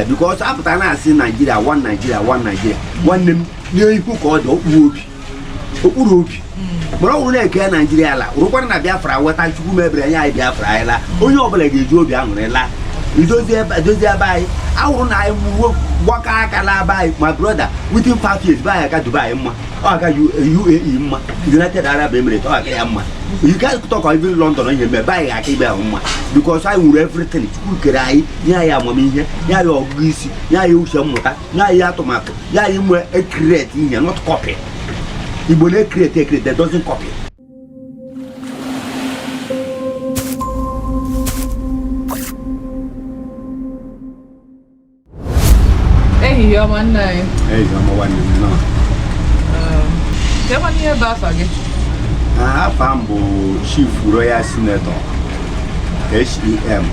because apụta na-asị naijiria one naijiria one naijiria nwanne m n'ihu ka ọ dị okpuru obi okpuru obi mgbe ọ bụrụ na e kee naijiria ala rụkwara na biafra weta chukwu mebere anya anyị biafra anyị laa onye ọbụla ga-eji obi aṅụrị laa idozi be anyị ọ wụrụ na anyị wee gbakọọ aka laa be anyị my brother within five years be anyị aka dubai mma ọ ka uae mma united arab emirates ọ ka ya mma you can talk even london onye eme be anyị ga-aka ebe ahụ mma because anyị nwere everything chukwu kere anyị nye anyị amamihe nye anyị ọgụgụ isi nye anyị uche mmụta nye anyị atụmatụ nye anyị iwere e-create ihe not copy igbo na-e-create e-create doesn't copy ehihie ọma nna anyị ehihie ọma nwanne m nnọọ kekwanụ ihe bụ afa gị aha afa m bụ chief royal senator HEM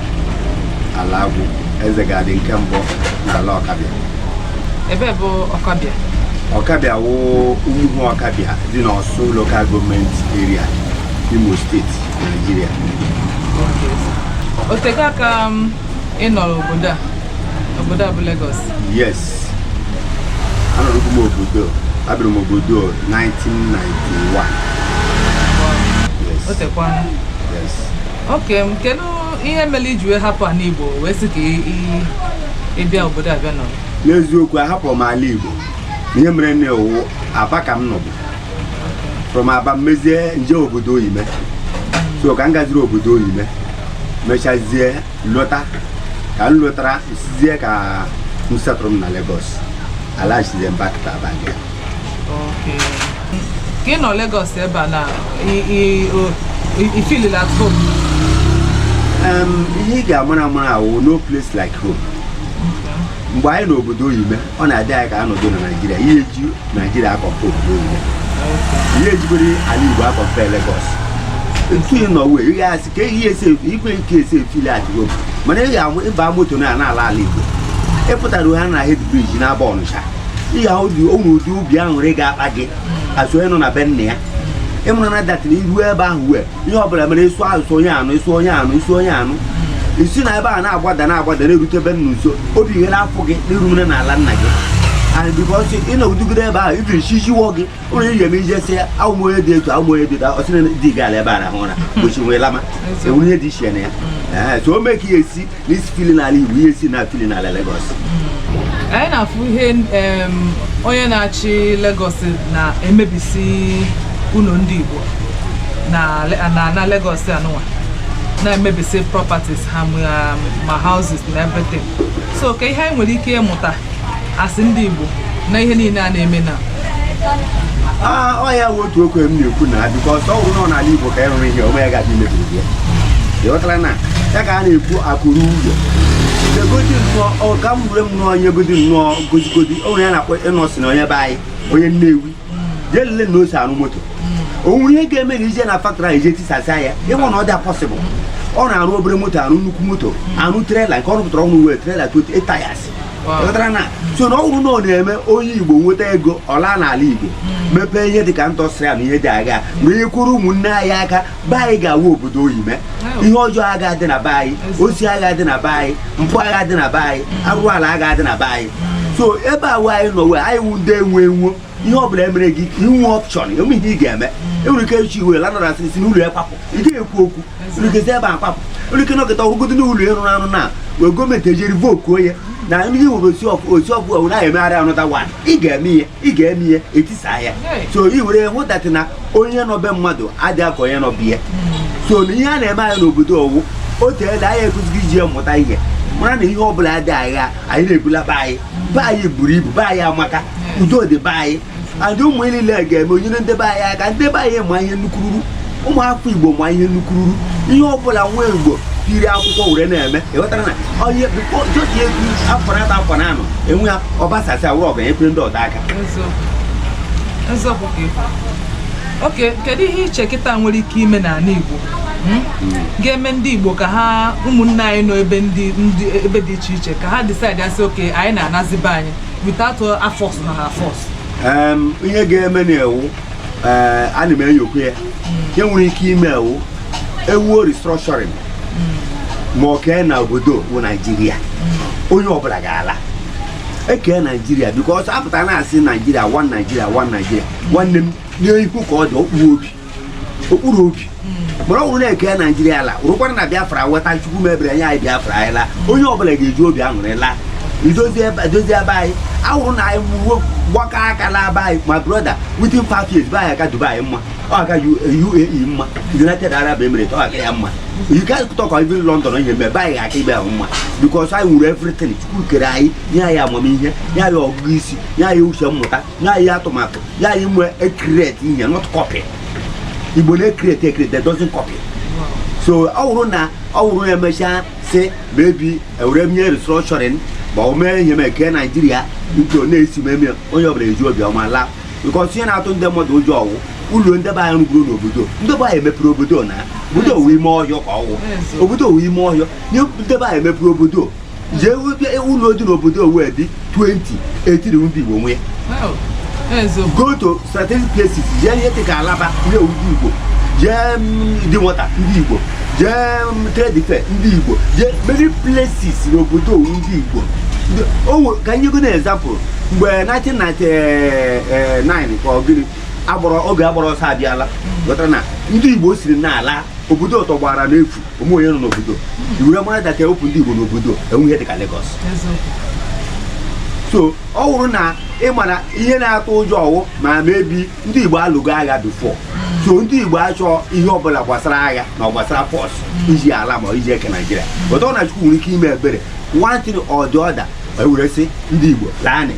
Alagwu eze ga-adị nke mbụ n'ala ọkabịa ebee bụ ọkabịa ọkabịa wụ Umuhu ọkabịa dị n'Orsu local government area imo state naijiria o tego aka m um, ị nọrọ obodo a obodo a bụ Lagos yes anọrọbu m obodo abịara m obodo 1991 otekwana okay kedu ihe mere i ji wee hapụ ala igbo wee sị ka ị- ị- ị bịa obodo a bịa nọ n'eziokwu ahapụrụ m ala igbo ihe mere na ọ wụ aba ka m nọbu from aba m mezie nje obodo oyime so ka m gaziri obodo oyime mechazie lọta ka m lọtara m sịzie ka m setụrụ m na Lagos alaghachizie m back to Aba Ngwa Okay. Ka ị nọ Lagos ebe a na i- i- o- i- i feel at home. Em, ihe ị ga-amara amara awụ no place like home mgbe anyị nọ obodo oyime ọ na-adị anyị ka a nọdụ na naijiria ihe e ji naijiria akọpụ obodo oyime ihe ejibere ala igbo akọpụ Lagos etu ị nọ wee ị ga-asị ka ehi esi even ka e si e-feel at home mana ị ga-ama ma ị baa moto na-ala ala igbo ị pụtara na head bridge na-aba ọnịcha ihe ahụ dị o nwe ụdị obi aṅụrị ga-akpa gị as onye nọ na be nna ya ị mara na datịrị ihu ebe ahụ wee ihe ọbụla mere ị sụọ asụsụ onye anụ ị sụọ onye anụ ị sụọ onye anụ i si na ebe a na-agbada na-agbada na-erute be nna nso obi ihe n'afọ gị na i rumere n'ala nna gị and because ị nọdugide ebe ahụ ibiri chichiwo gị ụlọ ihe eme ije sị ya awụ m onye dị etu awụ m onye dị etu ọ sị na di gị ala ebe a na-ahụ ụra gbochi nwee lama enwere ihe dị iche na ya Ee, so o mee ka ihe esi na isi feel n'ala Igbo ihe esi na feel n'ala Lagos anyị na-afụ ihe em, onye na-achị Lagos na-emebisi ụlọ ndị Igbo na Le- na na Lagos anụnwa na-emebisi properties ha ma- ma houses na everything so kee ihe anyị nwere ike ịmụta as ndị Igbo na ihe niile a na-eme na ah, ọ ya otu okwe m na-ekwu na because ọ wụ na n'ala Igbo ka ị rụrụ ya ihe o nwe onye ga-eje mebiri ya ịghọtara na ya ka a na-ekwu akụ ruo ụlọ legodi nnọọ ok ka m were m nnọọ onye legodi nnọọ gozigodi onye a na-akpọ Innoson onye be anyị onye Nnewi jee lele na o si arụ moto o nwere ihe ga-eme na e je na factory e je tisasịa ya ịnwụ na ọ dịa possible ọ na-arụ obere moto arụ nnukwu moto arụ trailer nke ọ rụpụtara ọhụrụ wụ trailer 28 tires ịghọtara na so na ọ bụrụ na ọ na-eme onye igbo nweta ego ọ laa n'ala igbo hmm. mepee ihe dịka industry na ihe ndị a ga-enyekwuru ụmụnne anyị aka be anyị ga-awụ obodo oyibo oh. ihe ọjọọ aga adị na be anyị osi aga adị na be anyị mpụ aga adị na be anyị hmm. arụrụ ala aga adị na be anyị hmm. so ebe a anyị nọ wee anyị wụ ndị enwe enwe ihe ọ bụla emere gị i nwe option enwe ihe ị ga-eme enwere ike ichi iwe landlord asị gị si n'ụlọ ya kwapụ ị gaghị ekwu okwu enwere ike si ebe a kwapụ enwere ike nọkịta ọ wụgodi n'ụlọ ị rụrụ arụ na wee gọọmenti ejee revoke-uo ya na ndị iwe osi osi ọ wụ ọ wụ na-emegharị another one ị ga-eme ihe ị ga-eme ihe etisa ya so i were hụ that na onye nọ be mmadụ adịghị ka onye nọ be ya so na ihe a na-eme anyị n'obodo ọ wụ o teela anyị ekwesigo iji ya mụta ihe mara na ihe ọ bụla adịghị agha anyị na-ebula be anyị be anyị buru ibu be anyị amaka udo dị be anyị and ụmụ niile ga-eme e nyere ndị be anyị aka ndị be anyị ma ihe nnukwururu ụmụafọ igbo ma ihe nnukwururu ihe ọ bụla nwa igbo tiri akwụkwọ were na-eme ịghọtara na onye before o je eruo afọ naatọ afọ naanọ ihe ya abasasị awụrụ ọga enyekwere ndị ọdọ aka okay kedu ihe i che kịta nwere ike ime n'ala igbo Hmm? ga-eme ndị Igbo ka ha ụmụnne anyị nọ ebe ndị ebe dị iche iche ka ha decide asị okay anyị na-anazi be anyị without a force na ha a force ihe ga-eme na ọ wụ eh, ana m eyokwu ya hmm. nke nwere ike ime ọ wụ ọ wụ restructuring hmm. ma oke na obodo bụ Naijiria hmm. onye ọbụla ga-ala ekee Naijiria because apụta na-asị Naijiria one Naijiria one Naijiria nwanne m n'ihu ka ọ dị ọkpụ obi okpuru obi mana ọ bụrụ na e kee naijiria ala rụkwara na biafra weta chukwu mee ebere nye anyị biafra anyị laa onye ọbụla ga-eji obi aṅụrị laa idozi be dozie be anyị ọ wụrụ na anyị wuo gbakọ aka laa be anyị my brother within five years be anyị aka dubai mma ọ aka uae mma united arab emirates ọ aka ya mma you can talk of even london ihe mere be anyị ga-aka ebe ahụ mma because anyị nwere everything chukwu kere anyị nye anyị amamihe nye anyị ọgụgụ isi nye anyị uche mmụta nye anyị atụmatụ nye anyị nwee create ihe not copy igbo na-ecreate ecreate doesn't copy so ọ wụrụ na ọ wụrụ na emechaa si maybe ewere nye restructuring ma o mee ihe eke Naijiria nke ọ na-esi meme onye ọbụla eji obiọma laa because ihe na-atụ ndị mmadụ ụjọ ọwụ ụlọ ndebe anyị rụgoro n'obodo ndebe anyị emepere obodo na obodo owu ime ọhịa ka ọwụ obodo owu ime ọhịa nye ndebe anyị emepere obodo jee ụlọ dị n'obodo ọwụ dị 20 18 ndị Igbo nwee go to strategic places jee ihe dị ka Alaba nye ndị Igbo jee mm, Idumota ndị Igbo jee mm, trade fair ndị Igbo jee many places n'obodo owu ndị Igbo ka m nye gị one example mgbe 1999 ka ọ gịnị agbara oge agbara ọsọ Abiola ghọtara na ndị Igbo siri na-ala obodo tọgbọrọ n'efu o nwee onye nọ n'obodo iwere mara that ka ewepụ ndị Igbo n'obodo enwe ihe dị ka Lagos so ọ wụrụ na ịmara ihe na-atụ ụjọ ọwụ ma maybe ndị Igbo alụgo agha before so ndị Igbo achọọ ihe ọbụla gbasara agha na gbasara force iji ala ma iji eke Naijiria but ọwụ na Chukwu nwere ike ime ebere one thing or the other ewere sị ndị Igbo laanị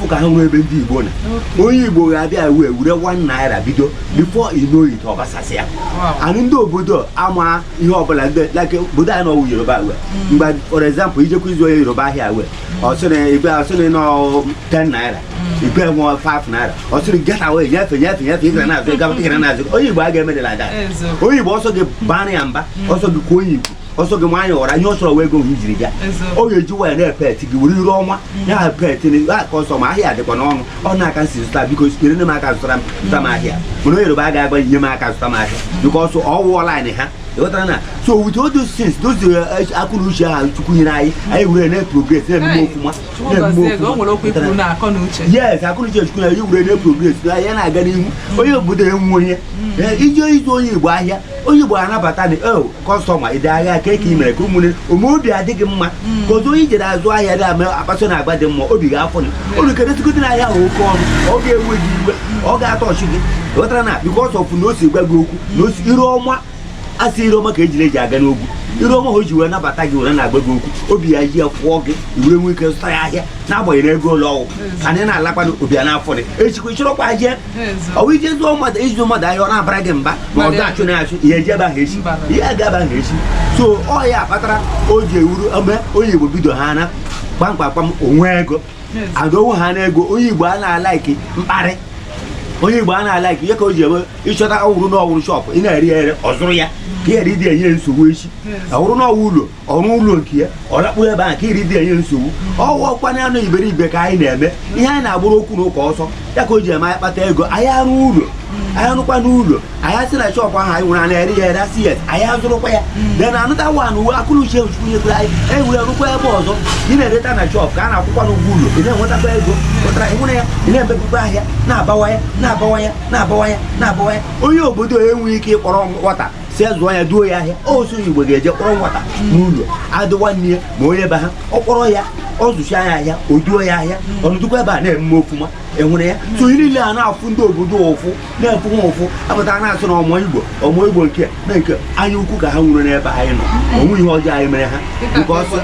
fụ ka ha nwee ebe ndị igbo na onye igbo ga-abịa ewe ewere one naira bido before you know it ọ gbasasị ya anyị ndị obodo ama ihe ọbụla ndị like obodo anyị n'ọwụ yoruba we mgbe for example ijekwa ịzụ onye yoruba ahịa we ọsịrị igwe ọsịrị na ọ 10 naira ikwe nwa 5 naira ọsịrị get away nyefe nyefe nyefe ịgara na-azụ ịgara na-azụ onye igbo a ga-emedela aga eziokwu onye igbo ọ sọ gị bara ya mba ọ sọ gị kwuo onye igbo ọ sọ gị nwaanyị ọra ihe ọ chọrọ wụ ego ijiri bịa o ya eji nwayọ na-epet gị were ire ọma ya ha pet customer ahịa dịkwa n'ọnụ ọ n'aka m si zụta biko sitere m aka zụtara m zụta m ahịa mana onye yoruba ga-agwa nye m aka zụta m ahịa biko ọsọ ọwụọ line ha ịghọtara na so with all those things those uh, akọ na uche ahụ chukwu nyere anyị anyị were na progress na-emume ofụma yes akọ na uche chukwu na anyị were na progress na ya na-aga n'ihu onye obodo enwe onye ije ịzụ onye igbo ahịa onye igbo anabata na customer ị dị aghaa ka eke mere ka ụmụnne ome obi adị gị mma ka otu onye jere azụ ahịa dị ama akpaso na agwa dị mma obi ga-afọ na olu keresikọta na ahịa ahụ oke ọnụ ọ ga-ewe gị iwe ọ ga-atọ ọchị ị ghọtara na because of na o si gwa gị okwu na o si ire ọma asị ire ọma ka ejule ji aga n'ogwu ire ọma o ji wee nabata gị were na-agwa gị okwu obi ya ji ya kwụọ gị iwere nwee ike zụta ya ahịa n'agbanyeghị na ego ụlọ ọgwụ ka anyị na-alakwa na obi a na-afọ dị echikwa ịchọrọkwa jee ọwụ ije zụọ mmadụ ịzụ mmadụ ahịa ọ na-abara gị mba ma ọ ga-achụ na-achụ ị ya-eje ebe ahụ echi ị ya-aga ebe ahụ echi so ọ ya kpatara o ji ewuru ome onye igbo bido ha na kpamkpakpam onwe ego adowo ha na ego onye igbo a na-alaiki mkparị onye igbo a na-alaiki ya ka o ji eme ịghọta ọwụrụ na ọwụrụ shop ị na-ere ere ọ zụrụ ya ka ị ghara ịdị enye nsogbu echi ọwụrụ na ọwụ ụlọ ọ rụọ ụlọ nke ya ọ lakpụrụ ebe ahụ ka iri dị enye nsogbu ọ wụ ọkwanye anụ iberibe ka anyị na-eme ihe anyị na-agbara okwu na ụka ọsọ ya ka o ji eme anyị kpata ego anyị arụọ ụlọ anyị anọkwa n'ụlọ anyị a sị na shọpụ ahụ anyị nwere a na-ere ya ere a sị ya anyị azụrụkwa ya de na anụta wan uwe akọ na uche chukwu nyegoro anyị anyị were rụkwa ebe ọzọ ị na-ereta na shọpụ ka a na-akwụkwanụ ụgwọ ụlọ ị na-enwetakwa ego pụtara ị hụrụ ya ị na-emepụta ahịa na-abawanye na-abawanye na-abawanye na-abawanye onye obodo enweghị ike ịkpọrọ nwata sị zụọ ya duo ya ahịa ọ sọ igbo ga-eje kpọrọ nwata n'ụlọ adị nwanne ya ma onye be ha ọ kpọrọ ya ọ zụchaa ya ahịa o duo ya ahịa ọ nọdụkwa ebe ahụ na-eme ọfụma enwere ya so ihe niile a na-afụ ndị obodo ụfụ na-afụ nwa ụfụ apụta na-asị na ụmụ igbo ụmụ igbo nke na nke anya ukwu ka ha nwere n'ebe anyị nọ o nwe ihe ọjọọ anyị mere ha nke ọsọ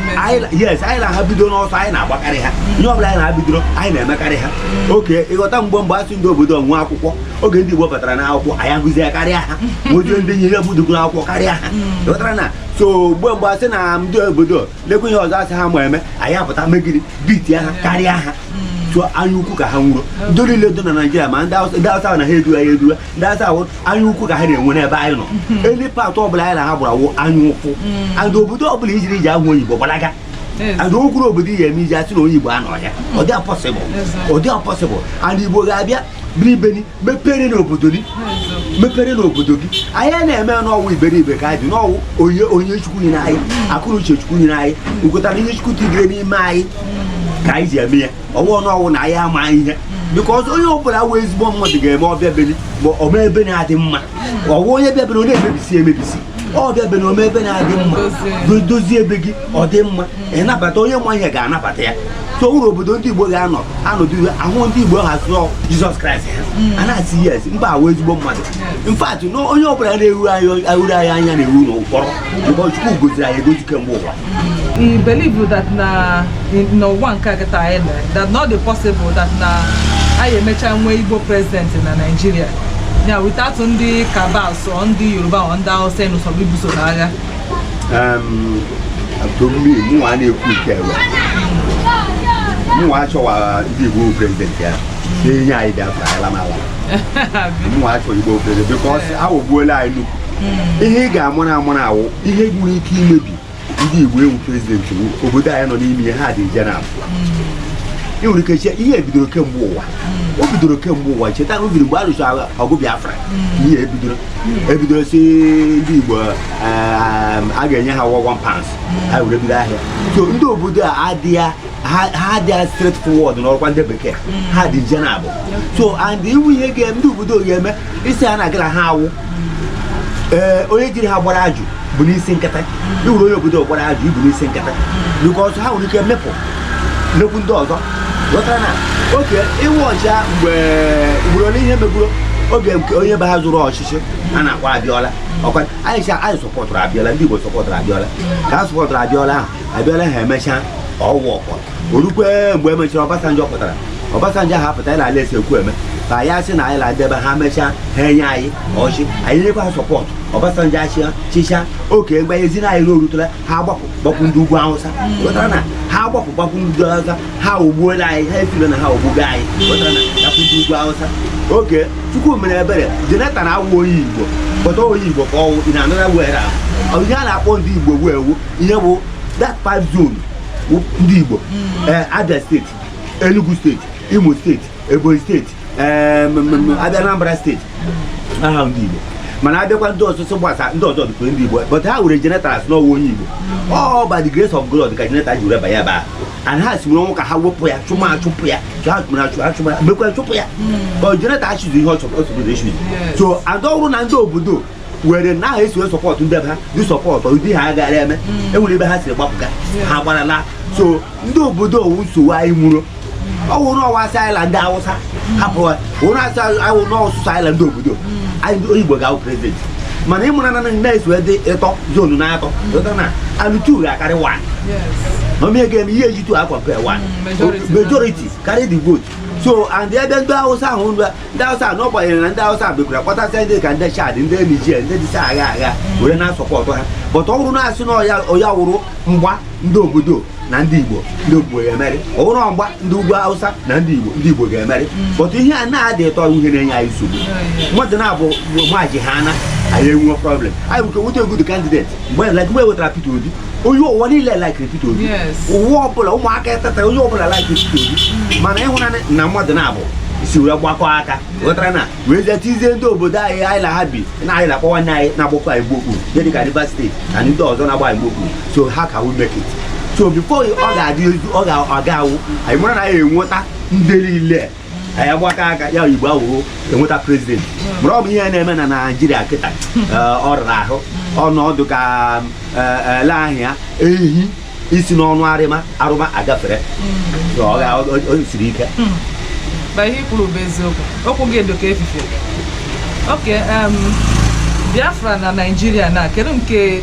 yes anyị na ha bido n'ọsọ anyị na-agbakarị ha ihe ọbụla anyị na-abidoro anyị na-emekarị ha okay ị ghọta mgbe mgbe a sị ndị obodo nwe akwụkwọ oge ndị Igbo batara n'akwụkwọ anyị agụzie ya karịa ha ma ojuo ndị nyi ihe bidogoro akwụkwọ karịa ha mm. ị ghọtara na so mgbe mgbe a sị na ndị obodo lekwa ihe ọzọ a sị ha ma eme anyị apụta megide biti ha karịa ha mm. so anya ukwu ka ha nwere ndị niile dị na Naịjirịa ma ndị Awụsa na ha eduga ya eduga ndị Awụsa ahụ anya ukwu ka ha na-enwe n'ebe anyị nọ mm-hmm. any part ọbụla anyị na ha gbara wụ anya ukwu mm. and obodo ọbụla i jere iji ahụ onye Igbo gbalaga and o nwerọ obodo ihe eme iji a sị na onye Igbo anọ ya ọ dị impossible ọ dị impossible and Igbo ga-abịa n'ibeni mepere n'obodo gị mepere n'obodo gị anyị na-eme na ọ wụ iberibe ka anyị dị na ọ wụ onye onye chukwu nyere anyị akọ na uche chukwu nyere anyị ị ghọtara ihe chukwu tigere n'ime anyị ka anyị ji eme ya ọ wụ na ọ wụ na anyị ama ihe because onye ọbụla wụ ezigbo mmadụ ga-eme ọ bịa beni ma ọ mee ebe na-adị mma ọ wụ onye bịa beni ọ na-emebisi emebisi ọ bịa beni o mee ebe na-adị mma dozie ebe gị ọ dị mma ị nabata onye ma ihe ga-anabata ya so ụrụ obodo ndị igbo ga-anọ anọdụ a hụ ndị igbo ha sị o jizọs kraịst a na-asị yes mba awụ ezigbo mmadụ in fact onye ọbụla na-eru anyị anya na-eru n'ụkpọrọ because chukwu gọziri anyị agọzi kemgbe ụwa I believe that na n'ụwa nke kịta anyị nọ that na ọ dị possible that na anyị emecha nwee Igbo president na Nigeria ya without ndị cabals or ndị Yoruba or ndị Hausa ịnụso ibuso n'agha mụnwa na-ekwu nke ewe mụnwa achọwara ndị Igbo president ya na-enye anyị Biafra ala n'ala mụnwa achọ Igbo president because aghọgbuola anyị nnukwu ihe ị ga-amụrụ amụrụ awụ ihe nwere ike imebi ndị Igbo ịwụ prezident obodo anyị nọ n'ime ihe a dị jeneral ị nwere ike chee ihe a bidoro kemgbe ụwa o bidoro kemgbe ụwa cheta na o bidoro mgbe a lụsị agha ọgụ Biafra ihe e bidoro e bidoro sị ndị Igbo eh, a ga-enye ha one one pounds ha were bido ahịa so ndị obodo a adịghị ha dị straight forward n'ọkwa ndị bekee ha dị general so and iwu ihe ga ndị obodo ga-eme isi ha na-agara ha awụ ee eh, onye jiri ha gbara aju bu n'isi nkata i were onye obodo gbara aju i bu n'isi nkata because ha nwere ike mepụ nnekwu ndị ọzọ ghọtara na oke ịwụ ọcha mgbe ugboro ole e megburu oge nke onye be ha zọrọ ọchịchị a na-akpọ Abịọla ọ kwa anyị sọpọtụrụ Abịọla ndị Igbo sọpọtụrụ Abịọla ka a sọpọtụrụ Abịọla ahụ Abịọla ha emechaa ọ wụ ọ kwa o rukwe mgbe e mechara Obasanjo pụtara Obasanjo ahụ apụta anyị na-ala esi ekwu eme ka ya sị na anyị na-adebe ha mechaa ha enye anyị ọchị anyị nyekwa ha sọpọtụ Obasanjo achịa chịcha oke mgbe e sị na anyị ruo o rutela ha agbapụ gbapụ ndị ugwu awụsa ghọtara na ha agbapụ gbapụ ndị awụsa ha ogbuola anyị ha efile na ha ogbugo anyị ghọtara na gbapụ ndị ugwu awụsa oke Chukwu mere ebere Jonathan awụ onye Igbo pụta onye Igbo ka ọ wụ ị na-anara were ahụ ihe a na-akpọ ndị Igbo wu ewu ihe bụ that five zone ndị Igbo mm. eh, Abia steeti Enugu steeti Imo steeti Ebonyi steeti eh, abịa Anambra steeti mm. aha ndị Igbo mana a bịakwa ndị South South gbasa ndị ọzọ dịkwa ndị Igbo but ha were Jonathan na ọ wụ onye Igbo mm. ọ by the grace of God ka Jonathan ji were ba ya ba and ha si nwere ọnwụ ka ha wepụ ya chụma achụpụ ya mekwa chụpụ ya ka Jonathan achụzi ihe ọ chọrọ ọsọbụrụ echuzi so adọwụrụ na ndị obodo were na aha esi wee sọpọtụ ndị be ha dị sọpọtụ ụdị ha agara eme mm. enwere ebe ha siri gbapụga ha gbara na so ndị obodo ọ wụ nsogbu anyị nwere ọ wụ na ọ wụ a sị anyị na ndị Awụsa hapụ wụ na asị awụ na ọ sọsọ anyị na ndị obodo mm. anyị ndị Igbo ga-awụ prezidenti mana ị mara na na-esi wee dị ịtọ zonu na atọ ịtọ na alụ two ga-akarị one ọmịa ga-eme ihe e ji two akwa mpe one majority carry the vote so and ebe ndị Awụsa ahụ ndị Awụsa n'agbanyeghị na ndị Awụsa jekwara kpọtasịa ndị ka ndị Chad ndị Niger ndị dịsa agha agha were na-asọpọtụ ha but ọ bụrụ na a sị na ọ ya wụrụ mgba ndị obodo na ndị Igbo ndị obodo ga-emeri ọ bụrụ mgba ndị ugwu Awụsa na ndị Igbo ndị Igbo ga-emeri but ihe a na-adị ịtọ ihe na-enye anyị nsogbu mmadụ naabọ merge ha na anyị enwe problem anyị bụ ka nweta good candidate mgbe like mgbe e wetara Peter Obi onye ụwa niile laikiri Peter Obi ụwa ọbụla ụmụaka eteta onye ọbụla laikiri Peter Obi mm. mana ị hụnanị na mmadụ naabọ si wee gbakọ aka ghọtara na wee jee tizie ndị obodo anyị anyị na ha bi na anyị na-akpọ nwanne anyị na-agbakwa anyị gbokwu ihe dịka Rivers steeti na ndị ọzọ na-agba anyị gbokwu so how can we make it so before ọ ga-adị ọ ga-awụ anyị mara na anyị enweta ndị niile anyị agbakọ aka ya Igbo awụwo enweta prezidenti mara ọ bụ ihe na-eme na Naijiria kịta eh, ọ rara ahụ ọnọdụ ka eh, ele ahịa ehi isi n'ọnụ arịma arụma agafere mm. o siri ike mm. ba ihe kwuru bụ eziokwu okwu gị edoka efife oke Biafra na Naijiria na kedu nke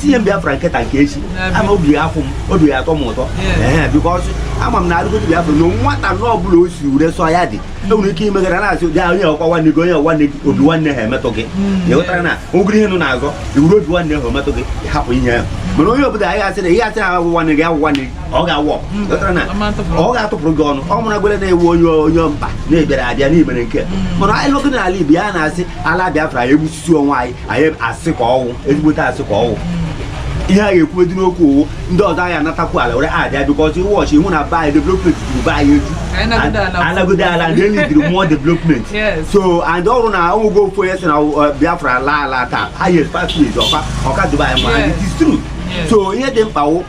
tinye m biafra kịta nke echi ama obi ya afụ m obi ya atọ m ụtọ ee because ama m na arụgoji biafra na nwata nọ ọbụla o si ure sọ ya dị enwere ike imegara na-asị dị onye ọkwa nwanne gị onye nwanne gị obi nwanne ha emetụ gị hmm. ịghọtara na ogiri ihe unu na-azọ ị wụrụ obi nwanne ha emetụ gị hapụ ihe ahụ mana onye obodo anyị asị na ihe asị ahụ nwanne gị ahụ nwanne gị ọ ga-awọ hmm. ịghọtara na ọ ga-atụpụrụ gị ọnụ ọ mụrụ gwere na-ewu onye onye mba na-ebere abịa n'imere nke hmm. mana anyị lụgị n'ala Igbo ya na-asị ala Biafra egbusi si onwe anyị anyị asị ka ọ nwụọ ezigbote asị ka ọ nwụọ ihe a ga-ekwu dị n'okwu ọ wụ ndị ọzọ anyị anatakwu ala were abịa because watch ị hụ na be anyị development juru be anyị eju anagode ala ndị a needịrị more development so and ọrụ na o nwego ofu onye sị na uh, biafra laa ala taa highest five years ọ ka ọ ka dubai mma and it is true so ihe dị mkpa wụ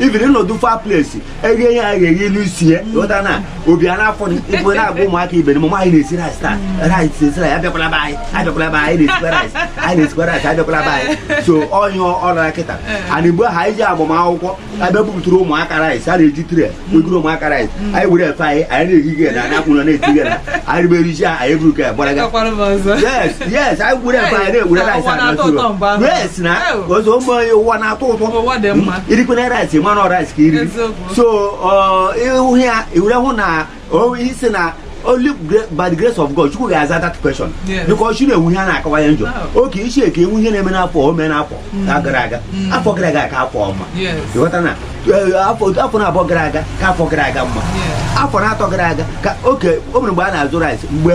ibiri nọdụ fire place eghe ihe a ga-eghe ị nụ isi ya ghọta na obi a na-afọ igwe na-agba ụmụaka ibe mama anyị na-esi rice taa rice esi rice abịakwala be anyị abịakwala be anyị na-esikwa rice anyị na-esikwa rice abịakwala be anyị so onye ọlara kịta ana igbo ha iji agbamakwụkwọ a bịa bupụtara ụmụaka rice a na-eji tray egoro ụmụaka rice anyị were efe anyị anyị na-ehighị na anakwụ na na-etighe na anyị ribere isi anyị buru ka gbaraga yes yes anyị were efe anyị na-ewere rice a na-atụrụ yes na ozi ụmụ anyị ụwa na-atọ ụtọ irikwana rice mana rice ka i riri so ị hụ ya i were hụ na isi na only by the grace of God Chukwu ga-aza that question because you na-enwe ihe a na-akawanye njọ okay i chee ka enwe ihe na-eme n'afọ o mee n'afọ mm. gara aga mm. afọ gara aga ka afọ a mma ịghọta na eh, afọ na abụọ gara aga ka afọ gara aga mma afọ na atọ gara aga ka okay o nwere mgbe a na-azụ rice mgbe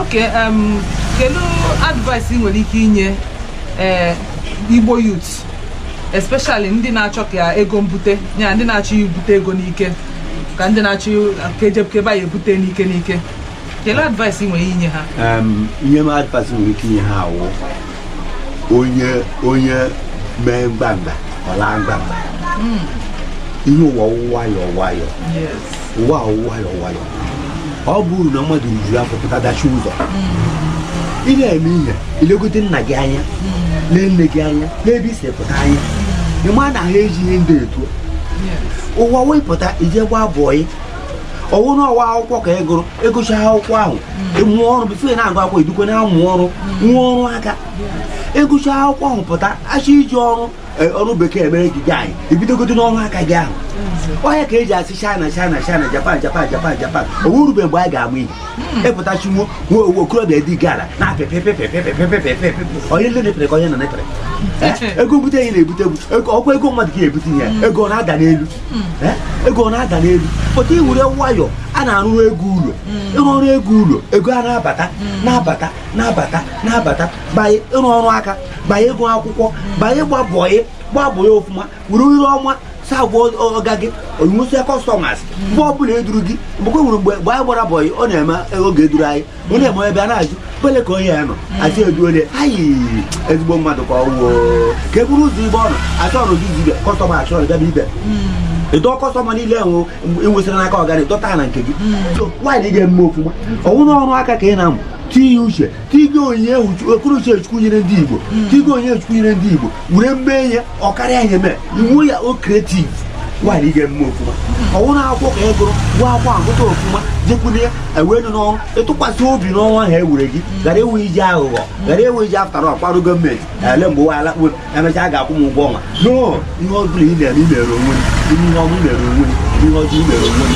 okay um, kele advice ị nwere ike inye eh, igbo youth especially ndị na-achọ ka ego mbute ya ndị na-achọ ibute ego n'ike ka ndị na-achọ ka eje ka ebe anyị ebute n'ike n'ike kele advice ị nwere inye ha Em, ihe m advice nwere ike inye ha awụ onye onye mee ngwangwa ọ laa ngwangwa ihe ụwa wụ nwayọọ nwayọọ yes ụwa wụ nwayọọ nwayọọ ọ bụrụ na mmadụ ruru afọ pụta dachie ụzọ ị na-eme ihe i legode nna gị anya lee nne gị anya lee ebe i si pụta anya ị ma na ha ejighị ndị etu ụwa wee pụta i je gbaa boy ọ wụ na ọ wụ akwụkwọ ka ị gụrụ ị gụcha akwụkwọ ahụ ị mụọ ọrụ before ị na-agụ akwụkwọ ị dịkwa na-amụ ọrụ nwa ọrụ aka ị gụcha akwụkwọ ahụ pụta achọ iji ọrụ e, ọrụ bekee mere gị gị ebidogodo n'ọrụ aka gị ahụ ọ wụ ya ka e ji asị china china china japan japan japan japan owurube mgbe anyị ga-amụ ihe ịpụtachiwo nwa owu okorobịa dị gara na apịpịpịpịpịpịpịpịpịpị onye ndị nepere ka onye na nepere ego mbute anyị na-ebute ọkwa ego mmadụ gị ebute i che ego na-ada n'elu ego na-ada n'elu pụta i were nwayọ a na-arụrụ ego ọrụ ị rụọrọ ego ọrụ ego a na-abata na-abata na-abata na-abata banye ịrụ ọrụ aka banye ịgụ akwụkwọ banye gba bọị gba bọị ọfụma were ire ọma sa agwa ọga gị ị nwesịa kọstọmas mgbe ọ bụla e duru gị mgbe nwere mgbe mgbe anyị gbara bọị ọ na-eme oge e duru anyị ọ na-eme ebe a na-ajụ bele ka onye a nọ a sị e duole ya ezigbo mmadụ ka ọ wụ ka e buru ụzọ ibe ọ nọ achọrọ gị ibe kọstọma achọrọ bịaba ibe ịdọ kọstọma niile ahụ ị nwesịrị n'aka ọga ị dọta ha na nke gị nwanne ị ga-eme ọfụma ọ wụ n'ọrụ aka ka ị na-amụ tinye uche tikwunye akọ na uche chukwu nyere ndị igbo tikwunye ihe chukwu nyere ndị igbo were mee ihe ọkarịa ihe mee iwu ya o creative nwanne ị ga-eme ọfụma ọ wụ na akwụkwọ ka ị gụrụ gụọ akwụkwọ agụta ọfụma jekwunye ya ewee nụ n'ọrụ ị tụkwasị obi n'ọrụ ahụ e were gị ghara enwe iji aghụghọ ghara enwe iji after all ọ kwa ọrụ gọọmenti ele mgbe ọnwa lakpuo e mechaa a ga-akwụ m ụgwọ ọnwa no ihe ọ bụla ị na-eme i meere onwe ihe ọma i meere onwe ihe ọjọọ i meere onwe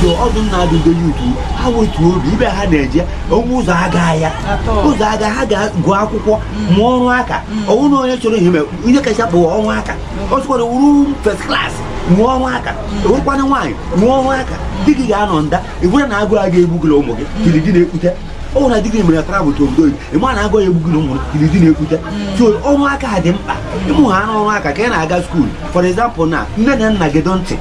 so ọdụ m na-adụ ndị yut ha wetu obi ebe ha na-eje onwe ụzọ aga ya ụzọ aga ha ga-agụ akwụkwọ mụọ ọrụ aka ọ wụ na onye chọrọ ihe ime ihe kacha bụ ọrụ aka ọ sịkwara wụrụ first class mụọ ọrụ aka ị wụkwanụ nwaanyị mụọ ọrụ aka di gị ga-anọ nda ị bụrụ na agụụ aga egbu gị na ụmụ gị jiri gị na-ekpute ọ na di gị mere travel to obodo oyibo ị ma na agụụ ya egbu gị na ụmụ kiri dị na-ekwute so ọrụ aka dị mkpa ịmụ ha na ọrụ aka ka ị na-aga skuul for example na nne na nna gị dọ ntị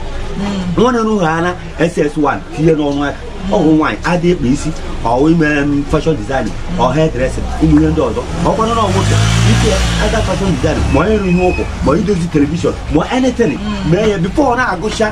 nwa na erughị ana ss1 tinye n'ọrụ aka ọ wụ nwaanyị either ịkpa isi or ime fashion design or hairdressing ụmụ ihe ndị ọzọ ọ kwanụ na nwoke nwe ike aga fashion design ma onye rụ ihe ọkụ ma idozi telivishọn ma anything mee ya bifo ọ na-agụcha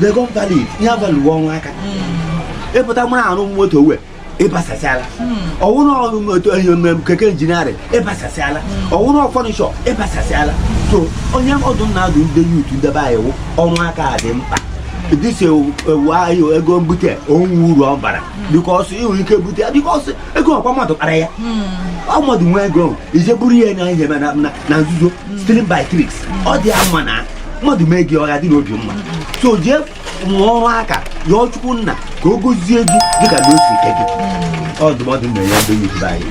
Legon Valley ihe abalị uwe ọrụ aka ị pụta hmm. ị mara arụ moto wee ịbasasịala ọ wụrụ ọrụ moto ihe mekanịk injiniarịn ịbasasịala ọ wụrụ fọnishọ ịbasasịala so onye ọdụ m na-adụ ndị yut ndị be anyị wụ ọrụ aka dị mkpa this yahoo yahoo ego mbute o nwe uru ọ bara bikọs i nwe ike bute ya bikọs ego ọ kwa mmadụ kpara ya ọ mmadụ nwe ego i je buru ihe na ihe na nzuzo stealing by tricks ọ dịghị mma na mmadụ mee gị ọ gaghị adị n'obi mma so jee mụọ ọrụ aka yọọ chukwu nna ka o gozie gị dịka na osi ike gị ọ ndụmọdụ m na-enye ndị yut be anyị